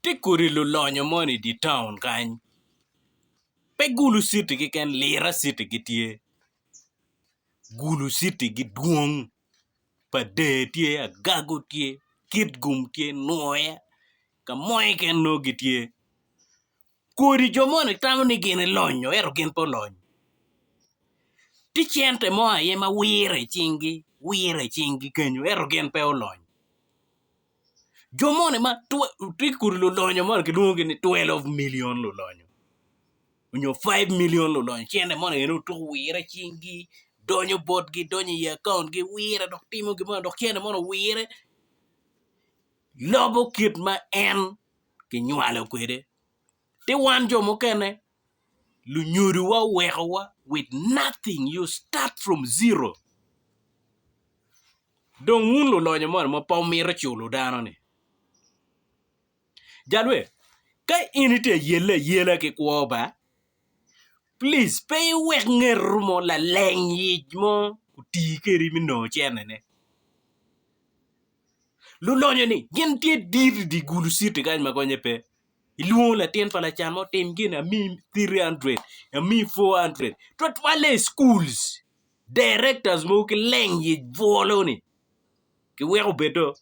Tye kodi lulonyo moni i di taun kany pe gulu citi keken lira citi gitye gulu citi gidwong pa dee tye agago tye kitgum tye nwoya ka mo keken nongo gitye. Kodi jo moni tamo ni gin gilonyo ento gin pe olony. Tye cente mo aye ma wire i cinggi, wire i cinggi kenyo ento gin pe olony. Jo moni ma tye kodi lulonyo moni kilwongogi ni twelve milion lulonyo nyo faiv milion lulonyo cente moni aye dong tuku wire i cinggi donyo botgi donyo i akaontgi wire dok timo gin moni dok cente moni owire lobo kit ma en kinywalo kwede ci wan jo mukene lunyodowa owekowa with nothing you start from zero dong wun lulonyo moni ma pe wumito culo dano ni jal we ka in itye ka yelle ayela ki kwo ba please pe iwek ngeto mo laleng yic mo oti kwedi me nongo cene ne Lulonyo ni gin tye dit i dye gulu citi kany ma gonye pe. Ilwongo latin pa lacan mo tim gin amiyi 300 amiyi 400 twatwalle i schools directors mogo ki leng i bwolo ni kiweko obed do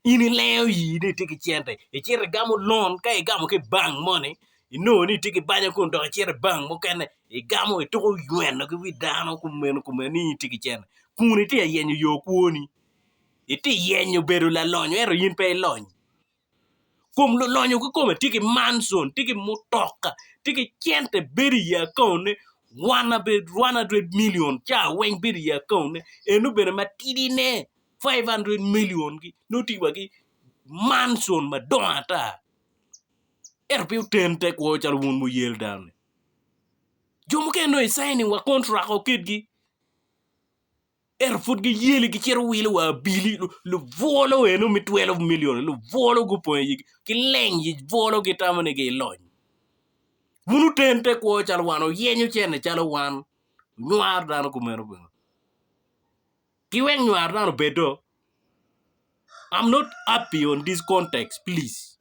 in ilengo ii ni itye ki cente icito igamo loan ka igamo ki i bank moni inongo ni itye ki banya kun dok icito i bang mukene igamo ituko nyweno ki wi dano kumeno kumeno ni in itye ki cente kun itye ka yenyo yo kwoni, itye ka yenyo bedo lalonyo ento in pe ilony kom lulonyo kikome tye ki mancon, tye ki mutoka, tye ki cente bedo i akaone one hundred million ca weng bedo i akaone eno bene matidi ne five hundred million nongo tye wa ki mancon madongo ata. Ento pe oten tekwo calo wun wuyel dano-ni. Jo mukene dong icai ni wa kon rwako kitgi, ento pud giyeli gicito wilo wa abili, lubwolo eno me twelve milion-ni lubwolo gupong i igi, gileng yic bwolo gitamo ni gilony. Wun wuten tekwo calo wan, wuyenyo cente calo wan, wunywar dano kumeno bene. Ki wek nywar nano obed do, I'm not happy on this context please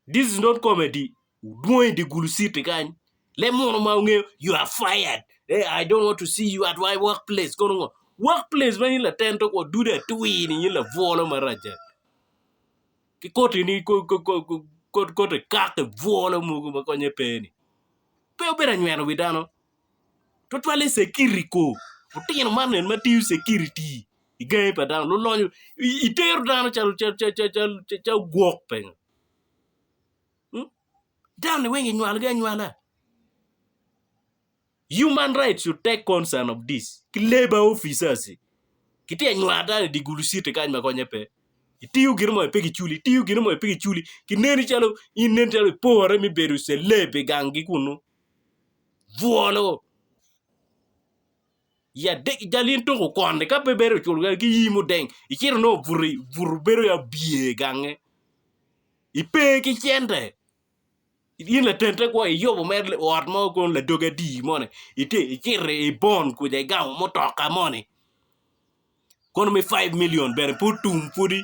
this is not comedy dwong i dye gulu city kany leb munu ma wungeyo you are fired I don't want to see you at my work place kono ngo work place ma in laten to kwo dude atwir ni in labwolo marac dok ki koti ni koti kaki bwolo mogo ma konye pe ni pe obedo anyweno wi dano. Twatwalle security ko lutino man eni ma tiyo security i gangi pa dano lulonyo itero dano calo calo gwok pengo dano ni weng inywalo gi anywala human rights should take concern of this ki labour officers gitye ka nywano dano i dye gulu city kany ma konye pe itiyo gin mo pe giculi itiyo gin mo pe giculi kineni calo in nen calo ipore me bedo celeb i gangi kunu. bwolo i adek i jal in tuko kwon ni ka pe bed oculo kadi ki yii mudeng icito nongo obuto obuto bedo calo abye i gange ipe ki cente in laten te kwo iyubo mere ot mo kono ladoge atir moni ite icito i bon kuca igamo mutoka moni kono me five million bene pud tum pwodi